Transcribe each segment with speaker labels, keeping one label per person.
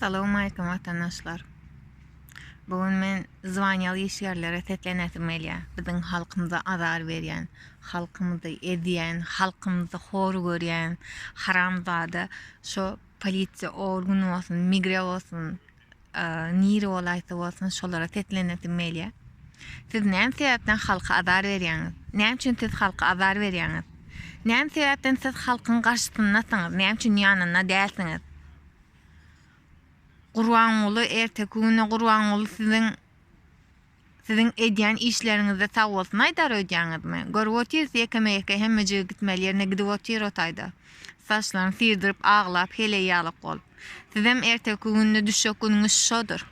Speaker 1: Salowmaýkim watandaşlar. Bu gün men zwanýaly işgärlere seslenesim gelýär. Biziň halkymyza azar berýän, halkymyzy ezýän, halkymyzy hor görýän haramzada şo polisiýa organy bolsun, migre bolsun, nire bolaýsa bolsun şolara seslenesim gelýär. Siz näme sebäpden halka azar berýäňiz? Näme üçin siz halka azar berýäňiz? Näme sebäpden siz halkyň garşysyndasyňyz, näme üçin ýanynda dälsiňiz? Gurbanguly erteki güne Gurbanguly siziň siziň edýän işleriňizde sag bolsun aýdar öýdýäňizmi? Görüp otyrys ýekeme-ýeke hemme jigi gitmeli ýerine gidip otyr o taýda. Saçlaryny syrdyryp aglap heleý ýalak bolup. Sizem erteki günde düşjek günüňiz şodur.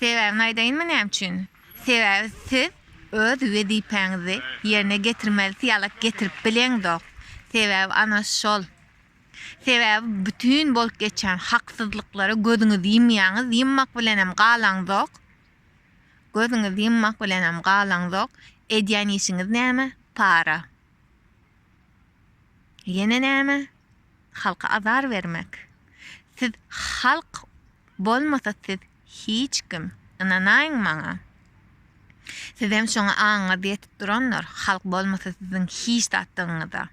Speaker 1: Sebäbini aýdaýynmy näme üçin? Sebäbi siz öz wezipäňizi ýerine getirmelisi ýalak getirip bileňzok. Sebäbi ana şol. Sebäbi bütin bolup geçýän haksyzlyklara gözüňizi ýymýaňyz, ýymmak bilenem galaňzok. Gözüňizi ýymmak bilenem galaňzok. Edýän işiňiz näme? Para. Ýene näme? Halka azar bermek. Siz halk bolmasa siz hiç kim. Ynanaýyň maňa. Sizem şoňa aňyňyz ýetip durandyr, halk bolmasa siziň hiç zatdygyňyza.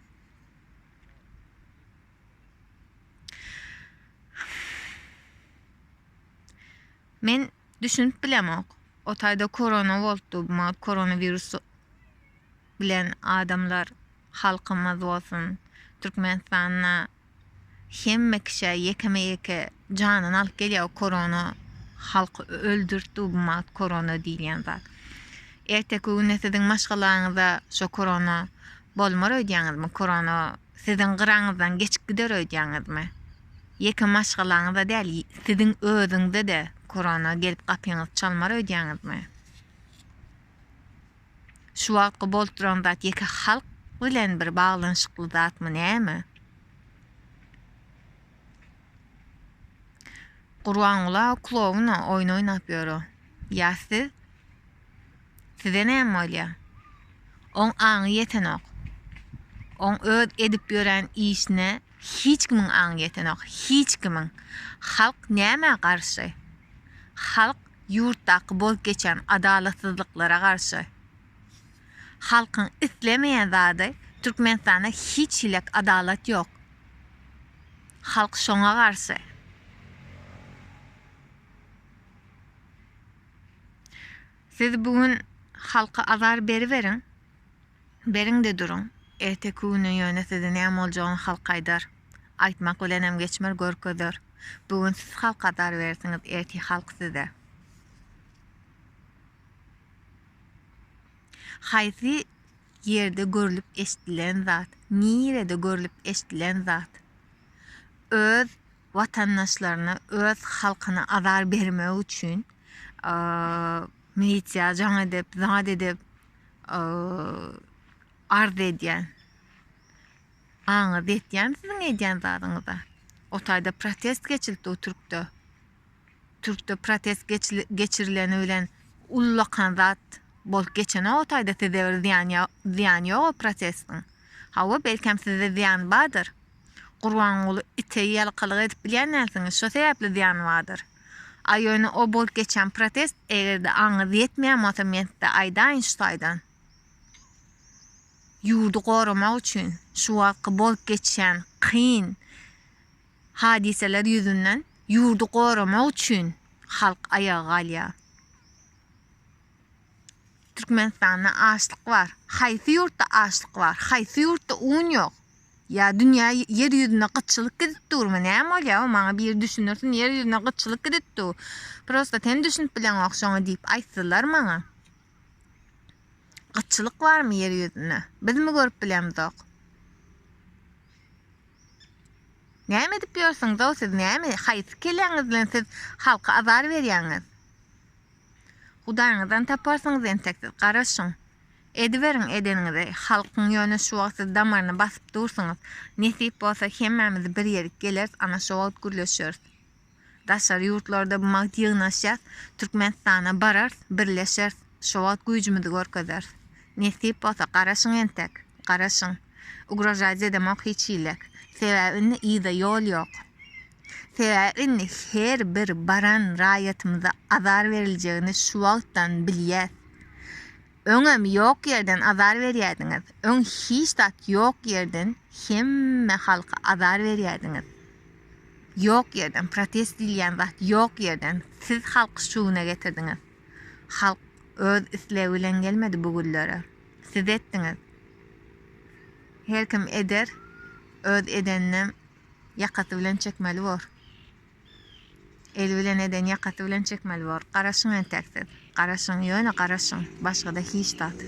Speaker 1: Men düşünip bilemok. O taýda korona bolupdy, maňa koronawirusu. bilen adamlar halkymyz bolsun Türkmenistanda hemme kişä ýekeme ýeke janyny alyp gelýär bu korona halky öldürtdi bu mat korona diýilýän zat erteki güne siziň maşgalaňyza şo korona bolmar öýdýäňizmi korona siziň gyraňyzdan geçip gider öýdýäňizmi ýeke maşgalaňyza däl siziň özüňize-de korona gelip gapyňyzy çalmar öýdýäňizmi. Şu wagtky bolup duran zat ýeke halk bilen bir baglanyşykly zatmy näme? Gurbangula klowna oýun oýnap ýör o. Ýa siz? Size näme bolýa? Oň aňy ýetenok. Oň öz edip ýören işine Hiç kimiň aňy ýetenok, hiç kimiň. Halk nämä garşy? Halk ýurtdaky bolup geçýän adalatsyzlyklara garşy. Halkyň islemeýän zady, Türkmenistanda hiç hilek adalat ýok. Halk şoňa garşy. Siz bu gün halka azar beriberiň. Beriň-de duruň. Erteki güni ýöne size näme boljagyny halk aýdar. Aýtmak bilenem geçmer, görkezer. Bu gün siz halka zar berersiňiz, ertir halk size. Haýsy ýerde görlüp-eşdilen zat? Nirede görlüp-eşdilen zat? Öz watandaşlaryna, öz halkyna azar bermek üçin milisiýa jaň edip, zat edip, Arz edýän. Aňyz ýetýän siziň edýän zadyňyza. O taýda protest geçildi o türkde. Türkde protest geçirileni bilen ullakan zat bolup geçene o taýda size bir zyýan zyýan ýok o protestiň. Hawa belkem size zyýan bardyr. Gurbanguly ite ýalkalyk edip bilýän dälsiňiz şo sebäpli zyýany bardyr. A ýöne o bolup geçýän protest egerde aňyňyz ýetmeýän bolsa men size aýdaýyn şu taýdan. Ýurdy goramak üçin şu wagtky bolup geçýän kyn hadyseler ýüzünden ýurdy goramak üçin halk aýaga galýar. Türkmenistanda açlyk bar. Haýsy ýurtda açlyk bar? Haýsy ýurtda un ýok? Ýa dünýä ýer ýüzüne gytçylyk gidip durmy näme bolýa o maňa biri düşündirsin ýer ýüzüne gytçylyk gidip du prosta sen düşünip bileňok şoňa diýip aýtdylar maňa gytçylyk barmy ýer ýüzüne bizmi görüp bilemzok Näme edip ýörsüňiz o siz näme haýsy keleňiz bilen siz halka azar berýäňiz Hudaýyňyzdan taparsyňyz entek siz garaşyň Ediberiň edeniňizi, halkyň ýöne şu wagt siz damaryny basyp dursuňyz, nesip bolsa hemmämiz bir ýerik geleris ana şo wagt gürleşeris. Daşary ýurtlarda bu wagt ýygnaşýas, Türkmenistana barars, birleşers, şo wagt güýjümizi görkezeris. Nesip bolsa garaşyň entek, garaşyň. Ugrožaýt edemok hiç hilek. Sebäbi indi yza ýol ýok. Sebäbi indi her bir baran raýatymyza azar beriljegini şu wagtdan bilýäs. Öňem ýok ýerden azar berýärdiňiz, öň hiç zat ýok ýerden hemme halka azar berýärdiňiz. Ýok ýerden protest diýilýän zat ýok ýerden siz halky şu güne getirdiňiz. Halk öz islegi bilen gelmedi bu günlere. Siz etdiňiz. Her kim eder, öz edeninem ýakasy bilen çekmeli bor. Eli bilen eden ýakasy bilen çekmeli bor. Garaşyň entek siz. Garaşyň, ýöne garaşyň. Başgada hiç zat.